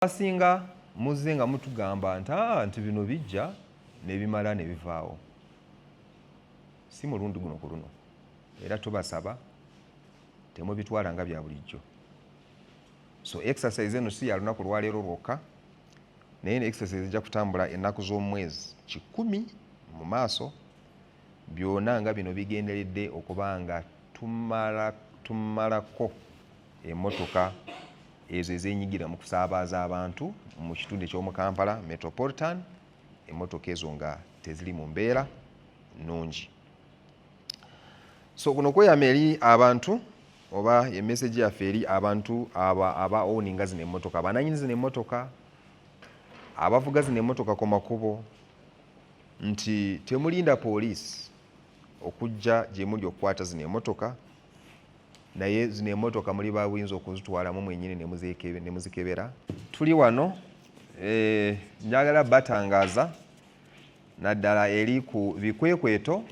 Abasinga muzze nga mutugamba nti ah, nti bino bijja nebimala nebivaawo. Si mulundi guno ku luno era tubasaba temubitwala nga bya bulijjo. So exercise eno si ya lunaku lwaleero lwokka naye ne exercise ejja kutambula ennaku z'omwezi kikumi mu maaso Byona nga bino bigenderedde okuba nga tumalako emotoka ezo ezenyigira mu kusabaaza abantu mu kitundu ekyomu Kampala Metropolitan, emotoka ezo nga teziri mu mbeera nnungi. So kuno kweyama eri abantu oba emesegi yaffe eri abantu aba owninga zino emotoka, abananyini zino emotoka, abavuga zino emotoka ku makubo, nti temulinda poliisi okujja gyemuli okukwata zino emotoka naye zino emotoka muli babuyinza okuzitwalamu mwenyini nemuzikebera tuli wano eh, njagala batangaza naddala eri ku bikwekweto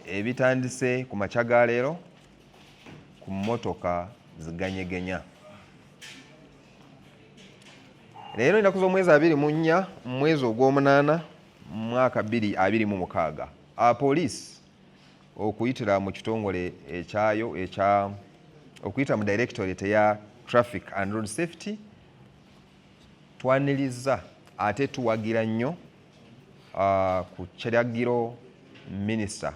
ebitandise ku makya ga leero ku mmotoka ziganyegenya leero enaku z'omwezi abiri mu nnya mu mwezi ogw'omunaana mu mwaka bbiri abiri mu mukaaga apoliisi okuyitira mu kitongole ekyayo ekya okuyita mu directorate eya traffic and road safety twaniriza ate tuwagira nnyo uh, ku kiragiro minisita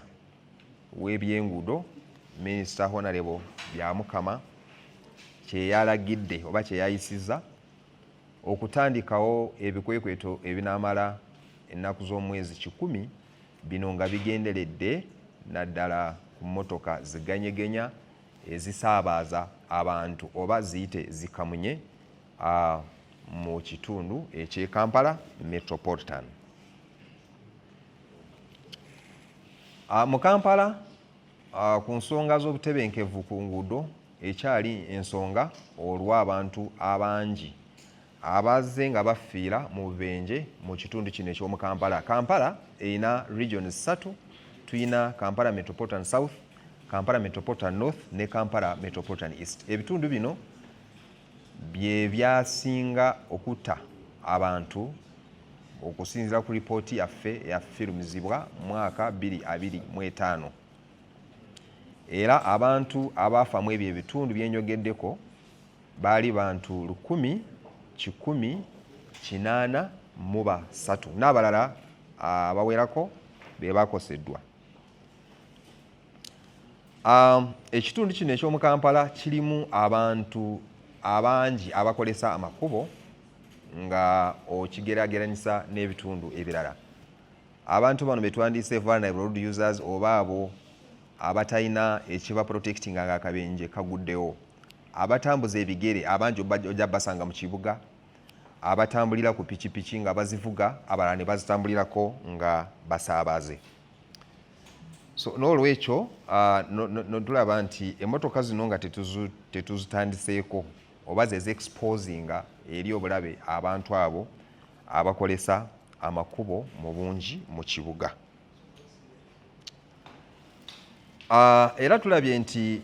w'ebyenguudo minisita honarebo byamukama kyeyalagidde oba kyeyayisiza okutandikawo ebikwekweto ebinamala ennaku z'omwezi kikumi bino nga bigenderedde naddala ku mmotoka ziganyegenya ezisaabaaza abantu oba ziyite zikamunye mu kitundu eky'e Kampala Metropolitan. Ah, mu kampala ah, ku nsonga z'obutebenkevu ku nguudo ekyali ensonga olw'abantu abangi abazze nga bafiira mu bubenje mu kitundu kino eky'omu kampala kampala erina region ssatu tulina kampala metropolitan south kampala metropolitan north ne kampala metropolitan east ebitundu bino bye byasinga okutta abantu okusinzira ku lipooti yaffe eyafirumizibwa mu mwaka 2025 era abantu abaafa mu ebyo ebitundu bye njogeddeko baali bantu lukumi kikumi kinaana mu basatu n'abalala abawerako be bakoseddwa Um, ekitundu kino eky'omu Kampala kirimu abantu abangi abakozesa amakubo nga okigerageranyisa n'ebitundu ebirala. Abantu bano betwandiise vulnerable road users oba abo abatalina ekiba protectinga nga akabenje kaguddewo abatambuza ebigere abangi ojja basanga mu kibuga abatambulira ku pikipiki nga bazivuga abalala ne bazitambulirako nga basaabaze so n'olwekyo uh, notulaba no, no nti emotoka zino nga tetuzitandiseeko oba zeziexposinga eri obulabe abantu abo abakolesa amakubo mu bungi mu kibuga uh, era tulabye nti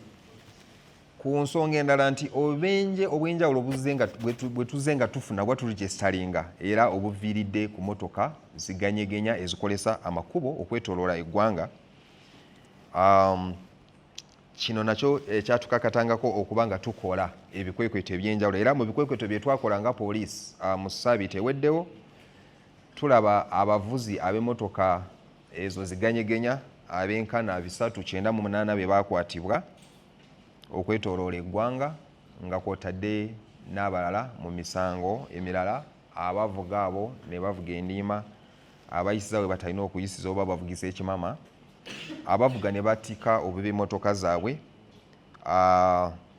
ku nsonga endala nti obubenje obw'enjawulo bwe tuzze nga tufuna oba tuligyesitalinga era obuviiridde ku motoka ziganyegenya ezikolesa amakubo okwetoloola eggwanga um, kino nakyo ekyatukakatangako eh, okuba nga tukola ebikwekweto eby'enjawulo era mu bikwekweto bye twakola nga poliisi uh, mu saabiti eweddewo tulaba abavuzi ab'emotoka ezo ziganyegenya abenkana bisatu kyenda mu munaana be baakwatibwa okwetoloola eggwanga nga kwotadde n'abalala mu misango emirala abavuga abo ne bavuga endiima abayisiza we batalina okuyisiza oba bavugisa ekimama abavuga ne batika obubi emotoka zaabwe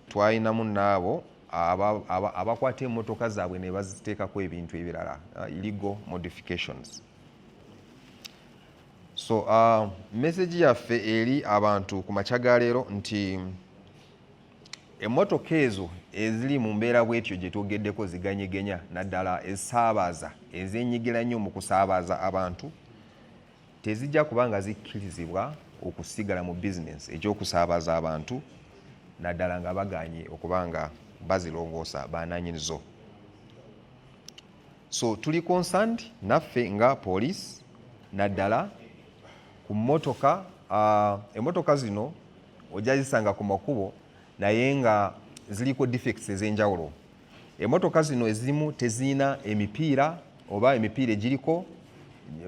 twalinamu naabo abakwata emotoka zaabwe ne baziteekako ebintu ebirala illegal modifications so uh, message yaffe eri abantu ku makya ga leero nti emmotoka ezo eziri mu mbeera bwetyo gye twogeddeko ziganyegenya naddala ezisaabaza ezenyigila nnyo mu kusaabaza abantu tezijja kuba nga zikkirizibwa okusigala mu bizinensi ekyokusaabaza abantu naddala nga baganye okuba nga bazilongoosa bananyini zo so tuli concerned naffe nga police naddala ku motoka uh, emotoka zino ojja zisanga ku makubo naye nga ziliko defects ez'enjawulo emotoka zino ezimu tezirina emipiira oba emipiira egiriko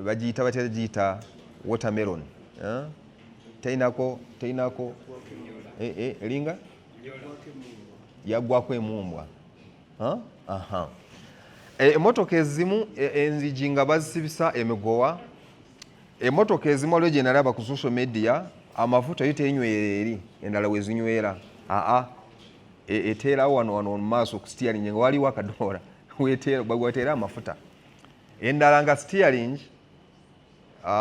bagiyita batya giyita watermelon eh? terinako terinako eh, eh, eringa yagwako emumbwa E, emotoka ezimu e, enzigi nga bazisibisa emigowa emotoka ezimu waliwo gyenalaba ku social media amafuta yo tenywera eri endala wezinywera aa e, eteerawo wano wano mumaaso ku steering nga waliwo akadoola weteera amafuta endala nga steering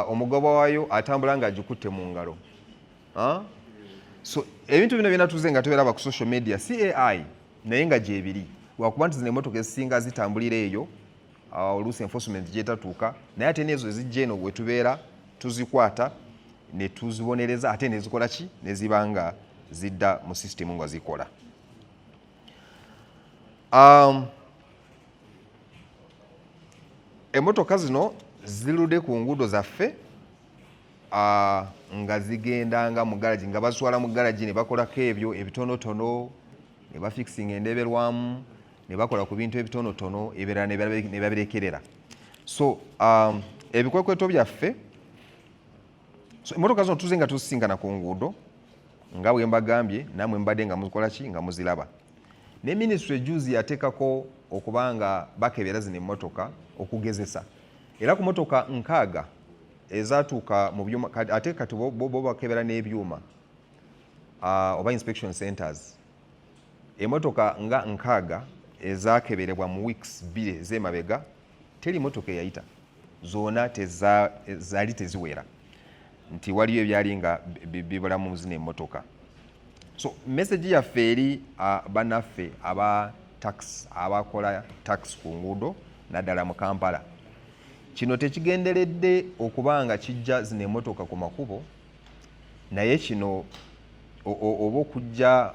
omugoba wayo atambula nga agikutte mu ngalo so ebintu bino byona tuze nga tuberaba ku social media cai naye nga gyebiri lwakuba nti zino emotoka ezisinga zitambulira eyo ah, oluusi enforcement gyetatuuka naye ate neezo ezijja eno wetubeera tuzikwata netuzibonereza ate nezikola ki neziba nga zidda mu system nga zikola um, emotoka zino zilude ku nguudo zaffe uh, nga zigendanga mu garagi nga bazitwala mu garagi ne bakolako ebyo ebitonotono ne bafikisinga endeberwamu ne bakola ku bintu ebitonotono ebirala ne babirekerera so um, ebikwekweto byaffe so emotoka zino tuze nga tuzisingana ku nguudo nga bwe mbagambye namwe mbadde nga mukola ki nga muziraba ne minisitule ejuzi yateekako okuba nga bakebera zino emmotoka okugezesa era ku motoka nkaaga ezatuuka mu byuma ate kati bo bakebera n'ebyuma ah, oba inspection centers emotoka nga nkaaga ezakeberebwa mu weeks bbiri ez'emabega teri motoka eyayita zona zali teziwera nti waliyo ebyali nga bibulamu muzina emotoka so message yaffe eri ah, banaffe aba tax abakola tax ku nguudo naddala mu kampala Kino tekigenderedde okuba nga kijja zino emotoka ku makubo naye kino oba okujja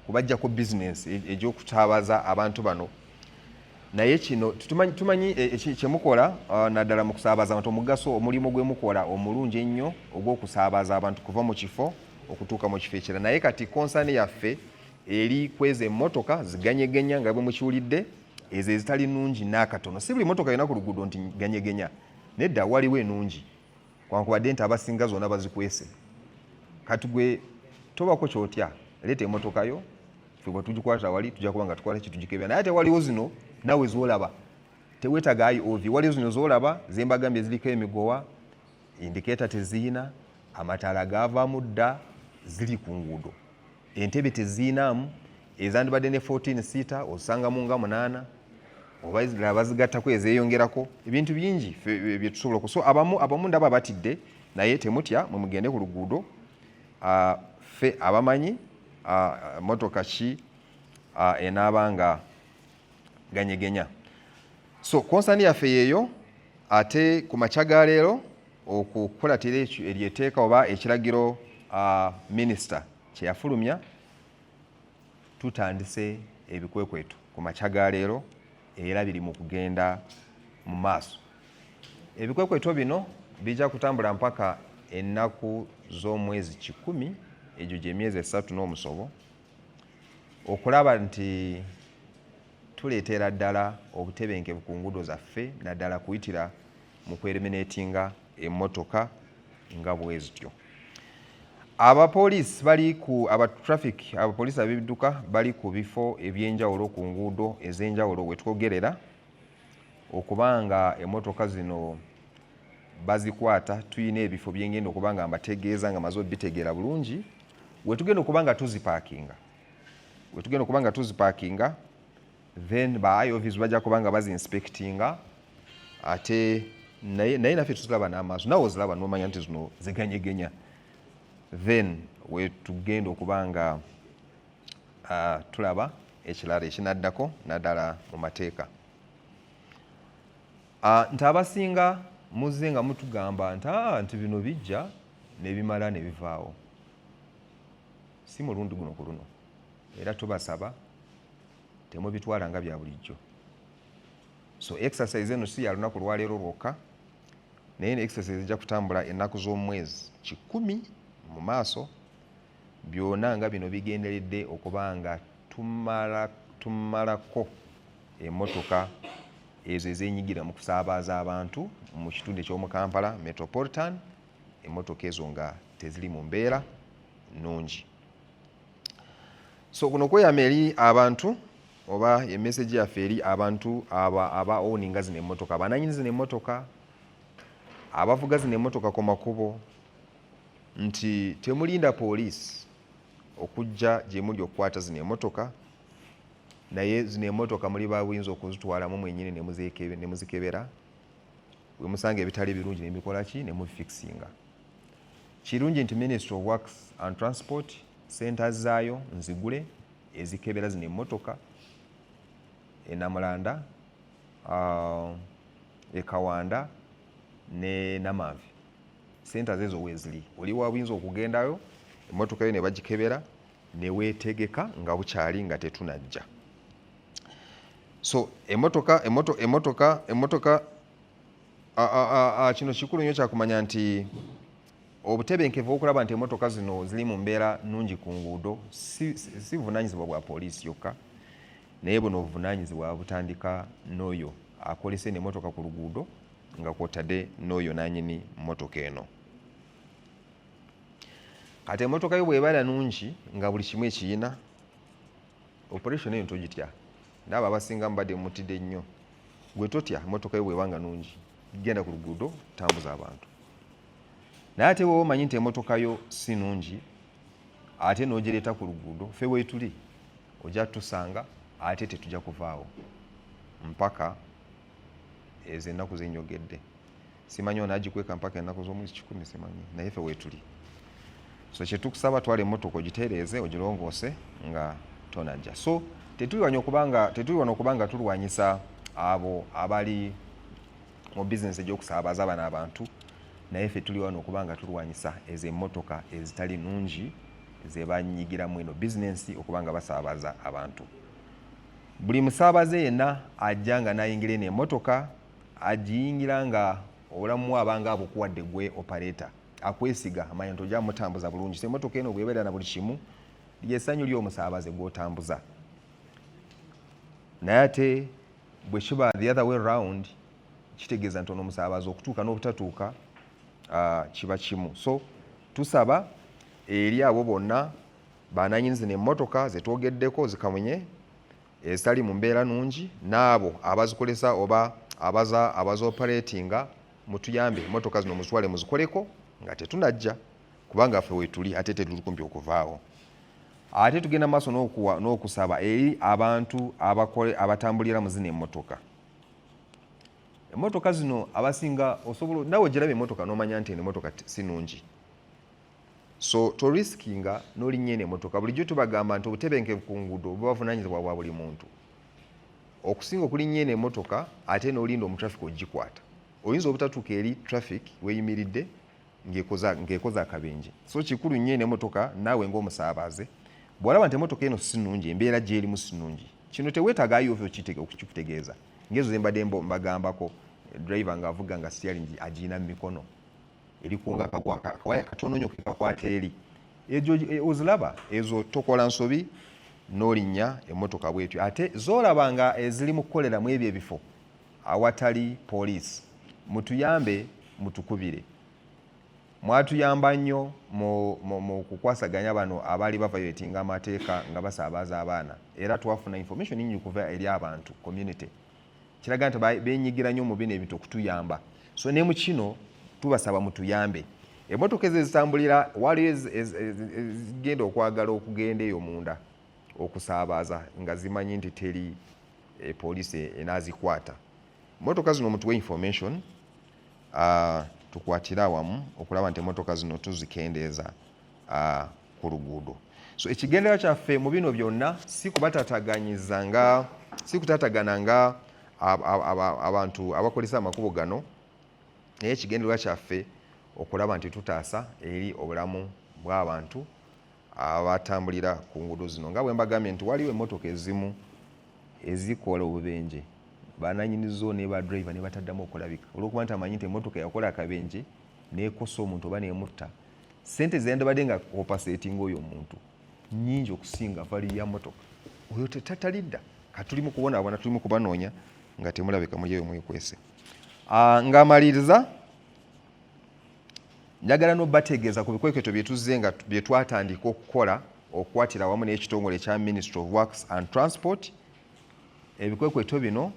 kubajjako bizinensi e, egy'okutaabaza abantu bano naye kino tumanyi e, e, kyemukola naddala mu kusaabaza abantu omugaso omulimu gwe mukola omulungi ennyo ogw'okusaabaza abantu kuva mu kifo okutuuka mu kifo ekirala naye kati konsani yaffe eri kweza emmotoka ziganyeganya nga bwe mukiwulidde ezo ezitali nungi n'akatono si buli motoka yona ku luguudo nti ganyegenya nedda waliwo enungi kwankubadde nti abasinga zona bazikwese kati gwe tobako kyotya leeta emotoka yo fe bwe tugikwata wali tujja kuba nga tukola ki tugikebera naye ate waliwo zino nawe zolaba tewetaga ayi ovi waliwo zino zolaba zembagambye ziriko emigowa indikeeta teziyina amataala gaavaamu dda ziri ku nguudo entebe teziinaamu ezandibadde ne 14 siita ozisangamu nga munaana oba ezirala bazigattako ezeeyongerako ebintu bingi eh, byetusobola okuso abamu abamu ndaba batidde naye temutya mwe mugende ku luguudo ah, ffe abamanyi ah, motoka ki ah, enaaba nga ganyegenya so konsani yaffe yeeyo ate ku makya ga leero okukulatira eryeteeka oba ekiragiro uh, minisita kyeyafulumya tutandise ebikwekweto ku makya ga leero era biri mu kugenda mu maaso ebikwekweto bino bijja kutambula mpaka ennaku z'omwezi kikumi egyo gy'emyezi esatu n'omusobo okulaba nti Tuleetera ddala obutebenkevu ku nguudo zaffe naddala kuyitira mu kweremenetinga emmotoka nga bwezityo. Abapoliisi bali ku aba traffic abapoliisi ab'ebidduka bali ku bifo eby'enjawulo ku nguudo ez'enjawulo we twogerera okuba nga emmotoka zino bazikwata tulina ebifo byengenda okuba nga mbategeeza nga maze obitegeera bulungi wetugenda okuba nga tuzipaakinga wetugenda okuba nga tuzipakinga then ba iovs bajja kuba nga bazinspectinga ate naye naffe tuzilaba n'amaaso nawe ozilaba nomanya nti zino ziganyegenya then wetugenda okuba nga uh, tulaba ekirala ekinaddako naddala mu mateeka uh, nti abasinga muzze nga mutugamba nti ah, nti bino bijja nebimala nebivaawo si mulundi guno ku luno era tubasaba temubitwala nga bya bulijjo so exercise eno si ya lunaku lwaleero lwokka naye ne exercise ejja kutambula ennaku z'omwezi kikumi mu maaso byona nga bino bigenderedde okuba nga tumalako emotoka ezo ezenyigira mu kusabaaza abantu mu kitundu ekyomu kampala metropolitan emotoka ezo nga teziri mu mbeera nnungi so kuno kweyama eri abantu oba emesegi yaffe eri abantu aba owninga zino emotoka abananyini zino emotoka abavuga zino emotoka ku makubo nti temulinda poliisi okujja gyemuli okukwata zino emotoka naye zino emotoka muli babuyinza okuzitwalamu mwenyini nemuzikebera wemusanga ebitali birungi nemikola ki nemufikisinga Kirungi nti Ministry of Works and Transport senta zaayo nzigule ezikebera zino emmotoka enamulanda uh, ekawanda ne namanvi senta zezo wezili oli wabuyinza okugendayo emmotoka yo nebagikebera newetegeka nga bukyali nga tetunajja so emotoka emotoka emotoka emotoka kino kikulu nnyo kyakumanya nti obutebenkevu okulaba nti emotoka zino ziri mu mbeera nungi ku nguudo si buvunanyizibwa bwa poliisi yokka naye buno obuvunanyizibwa butandika n'oyo akolesa eno emotoka ku luguudo nga kwotadde n'oyo nanyini motoka eno kati emotoka yo bwebala nungi nga buli kimu ekiyina operation eyo togitya naabo abasinga mubadde mutide nnyo gwe totya emotoka yo bwebanga nungi genda ku luguudo tambuza abantu naye ate wewe omanyi nti emotoka yo si nungi ate nogireeta ku luguudo fe wetuli ojja tusanga ate tetujja kuvaawo mpaka ezo ennaku zenyogedde simanyi ono agikweka mpaka ennaku z'omwezi kikumi simanyi naye fe weetuli so kyetukusaba twala emmotoka ogitereeze ogilongoose nga tonajja so tetuliwanya okubanga tetuliwana okuba nga tulwanyisa abo abali mu bizinesi egyokusaabaza abana abantu naye fe tuli wano okuba nga tulwanyisa ezo emmotoka ezitali nungi zebanyigiramu eno bizinesi okuba nga basaabaza abantu buli musaabaze yenna ajja nga nayingira eno emmotoka agiyingira nga obulamu aba nga abukuwadde gwe operator akwesiga amanya nti ojja mutambuza bulungi so emotoka eno bwebeera na buli kimu lyesanyu lyomusaabaze gwotambuza naye ate bwekiba the other way round kitegeeza nti ono omusaabaze okutuuka n'obutatuuka uh, kiba kimu so tusaba eri abo bonna bananyini zino emotoka zetwogeddeko zikamunye ezitali mu mbeera nungi n'abo abazikozesa oba abaza abazopareetinga mutuyambe motoka zino muzitwale muzikoleko nga tetunajja kubanga ffe wetuli ate tetuli kumpi okuvaawo ate tugenda maaso n'okusaba eri abantu abatambulira mu zino emmotoka emmotoka zino abasinga osobola nawe ogiraba emmotoka n'omanya nti eno emmotoka si nungi so to riskinga nolinnya eno emotoka bulijjo tubagamba nti obutebenkevu ku nguudo bubavunanyizibwa bwa buli muntu okusinga okulinnya eno emotoka ate nolinda omutraffic ogikwata oyinza obutatuuka eri traffic weyimiridde ng'ekoza akabenje so kikulu nnyo eno emotoka naawe ng'omusaabaze bw'olaba nti emotoka eno si nnungi embeera gy'erimu si nnungi kino teweetaaga ayo ova okikutegeeza ng'ezo ze mbadde mbagambako driver ng'avuga nga siyalingi agirina mu mikono erikunga akawaya katono nyo kekakwata eri ejo e, ozilaba ezo tokola nsobi nolinya emotoka bwetyo ate zolaba nga ezili mukukolera mu ebyo ebifo awatali police mutuyambe mutukubire mwatuyamba nnyo mu kukwasaganya bano abaali bavayoletinga amateeka nga basaabaza abaana era twafuna information nyingi kuva eri abantu community kiraga nti benyigira nnyo mu bino ebintu okutuyamba so ne mu kino tubasaba mutuyambe emotoka ezo ezitambulira waliyo ezigenda okwagala okugenda eyo munda okusaabaza nga zimanyi nti teri eh, poliisi enaazikwata motoka zino mutuwe information uh, tukwatire awamu okulaba nti emotoka zino tuzikendeeza uh, ku luguudo so ekigendera kyaffe mu bino byonna si kubatataganyiza nga si kutatagana nga abantu abakozesa amakubo gano naye ekigendererwa kyaffe okulaba nti tutaasa eri obulamu bw'abantu abatambulira ku nguudo zino nga bwe mbagambye nti waliwo emmotoka ezimu ezikola obubenje bananyini zo ne ba driver ne bataddamu okulabika olwokuba nti amanyi nti emmotoka yakola akabenje neekosa omuntu oba neemutta sente zeyandibadde nga opasetinga oyo omuntu nyingi okusinga vali ya motoka oyo tetatalidda katuli mukubonaabona tuli mukubanoonya nga temulabika mulyeyo mwekwese ah, ngamaliriza njagala nobategeeza ku bikwekweto byetuze nga byetwatandika okukola okukwatira awamu n'ekitongole ekya ministry of works and transport ebikwekweto bino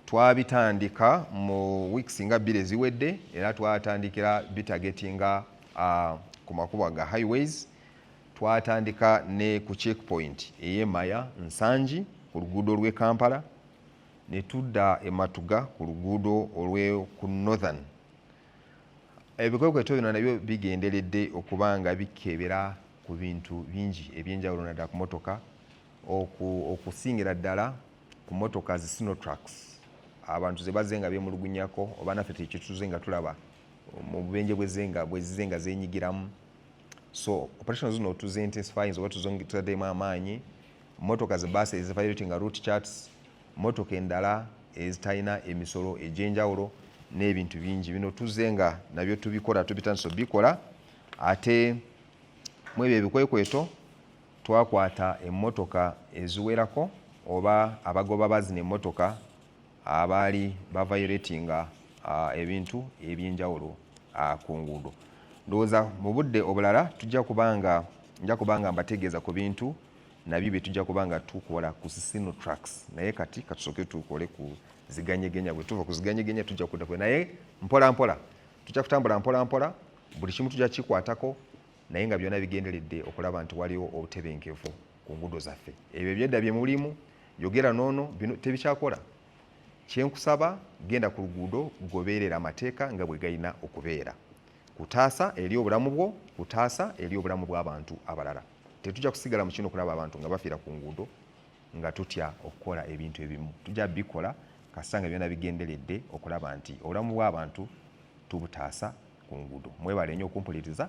twabitandika mu weeks nga bbiri eziwedde era twatandikira bitagetinga uh, ku makubo ga highways twatandika ne ku check point eyemaya nsangi ku luguudo lw'e kampala ne tudda ematuga ku luguudo olwe ku northern ebikwekweto bino nabyo bigenderedde okuba nga bikebera ku bintu bingi ebyenjawulo naddala ku motoka okusingira ddala ku motoka zi sinotrax abantu zebaze nga bemulugunyako oba naffe tekituze nga tulaba mu bubenje bwezenga bwezize nga zenyigiramu so operation zino tuze intensifying oba tuzongitademu amaanyi motoka ze basi ezivaireti nga root charts motoka endala ezitalina emisolo egyenjawulo n'ebintu bingi bino tuze nga nabyo tubikola tubitandisa obikola ate mwebyo ebikwekweto Twakwata emmotoka eziwerako oba abagoba ba zino emmotoka abaali bavayoletinga ebintu ebyenjawulo ku nguudo. Ndowooza mu budde obulala tujja kubanga nja kubanga mbategeeza ku bintu nabyo bye tujja kuba nga tukola ku sisino tracks naye kati katusooke tukole ku ziganyegenya bwe tuva ku ziganyegenya tujja kudda naye mpola mpola tujja kutambula mpola mpola buli kimu tujja kikwatako naye nga byona bigenderedde okulaba nti waliwo obutebenkevu ku ngudo zaffe ebyo ebyedda bye mulimu yogera noono bino tebikyakola kyenkusaba genda ku luguudo gobeerera amateeka nga bwe galina okubeera kutaasa eri obulamu bwo kutaasa eri obulamu bw'abantu abalala tetujja kusigala mu kino okulaba abantu nga bafiira ku nguudo nga tutya okukola ebintu ebimu tujja bikola kasita nga byona bigenderedde okulaba nti obulamu bw'abantu tubutaasa ku nguudo mwebale nnyo okumpuliriza